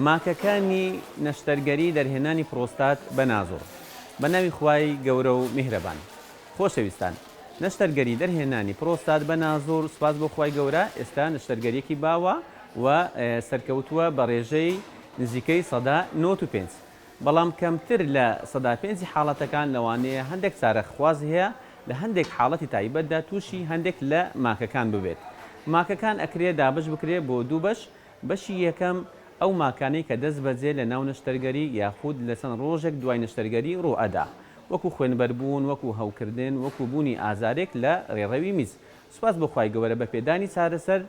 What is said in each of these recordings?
ماکەکانی نەشتەرگەری دەرهێنانی پرۆستات بە نازۆ. بە ناوی خوای گەورە و میهرەبان. خۆشەویستان، نەشتەرگەری دەرهێنانی پرۆستات بە نازۆر سوپاس بۆ خوای گەورە ئێستا نەشتەرگەریەکی باوە و سەرکەوتووە بە رێژەی نزیکەی سەدا نەوەد و پێنج بەڵام کەمتر لە سەدا پێنجی حاڵەتەکان لەوانەیە هەندێک چارە خوازی هەیە لە هەندێک حاڵەتی تایبەتدا تووشی هەندێک لە ماکەکان ببێت ماکەکان ئەکرێ دابەش بکرێ بۆ دوو بەش بەشی یەکەم، ئەو ماکانەی کە دەستبەجێ لە ناو نەشتەرگەری یاخود لە چەند ڕۆژێک دوای نەشتەرگەری ڕوو ئەدا. وەکو خوێنبەر بوون، وەکو هەوکردن، وەکو بوونی ئازارێک لە ڕێڕەوی میز. سوپاس بۆ خوای گەوەرە بە پێدانی چارەسەر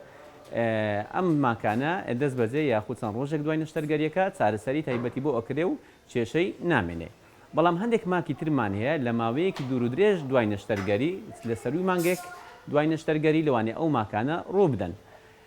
ئەم ماکانە دەستبەجێ یاخود چەند ڕۆژێک دوای نەشتەرگەریەکە چارەسەری تایبەتی بۆ ئەکرێ و کێشەی نامێنێ. بەڵام هەندێک ماکی ترمان هەیە لە ماوەیەکی دوور و درێژ دوای نەشتەرگەری لە سەرووی مانگێک دوای نەشتەرگەری لەوانەیە ئەو ماکانە ڕوو بدەن.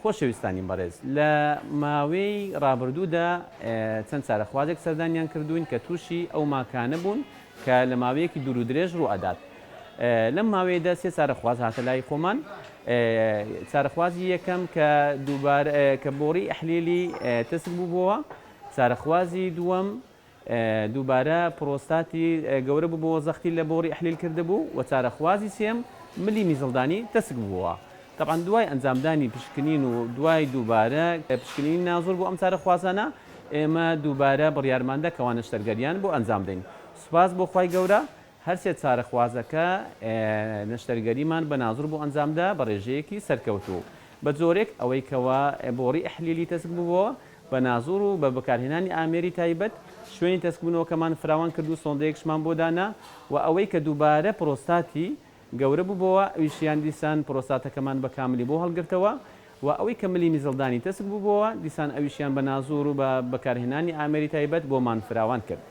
خۆشەویستانی بەڕێز لە ماوەی ڕابردوودا چەند چارەخوازێک سەردانیان کردووین کە تووشی ئەو ماکانە بوون کە لە ماوەیەکی دوور و درێژ ڕوو ئەدات. لەم ماوەیەدا سێ چارەخواز هاتە لای خۆمان. چارەخوازی یەکەم کە دووبارە کە بۆڕی ئەحلیلی تەسک بووبووەوە، چارەخوازی دووەم دووبارە پرۆستاتی گەورە ببۆوە زەختی لە بۆڕی ئەحلیل کردبوو و چارەخوازی سێم ملی میزڵدانی تەسک ببۆوە تەبعەن دوای ئەنجامدانی پشکنین و دوای دووبارە پشکنینی نازور بۆ ئەم چارەخوازانە ئێمە دووبارە بڕیارماندا کەوا نەشتەرگەریان بۆ ئەنجامدەین سوپاس بۆ خوای گەورە هەرسێ چارەخوازەکە نەشتەرگەریمان بە نازر بۆ ئەنجامدا بە ڕێژەیەکی سەرکەوتوو، بە جۆرێک ئەوەی کەوا بۆڕی ئەحلیلی تەسک ببووە بە نازر و بە بەکارهێنانی ئامێری تایبەت شوێنی تەسکبوونەوەکەمان فراوان کرد و سۆندەیەکشمان بۆ دانا و ئەوەی کە دووبارە پرۆستاتی گەورە ببۆوە ئەویشیان دیسان پرۆستاتەکەمان بە کاملی بۆ هەڵگرتەوە و ئەوەی کە ملی میزڵدانی تەسک ببۆوە دیسان ئەویشیان بە نازر و بە بەکارهێنانی ئامێری تایبەت بۆمان فراوان کرد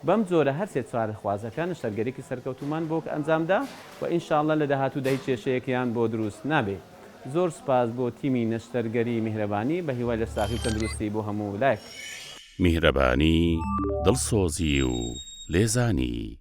بەم جۆرە هەر سێ چوار خوازەکە نەشتەرگەریکی سەرکەوتومان بۆ ئەنجامدا و ان شاء اللە لە داهاتوودا هیچ کێشەیەکیان بۆ دروست نابێ. زۆر سوپاس بۆ تیمی نەشتەرگەری میهرەبانی، بە هیوای لەشساغی و تەندروستی بۆ هەموو لایەک. میهرەبانی، دڵسۆزی و لێزانی.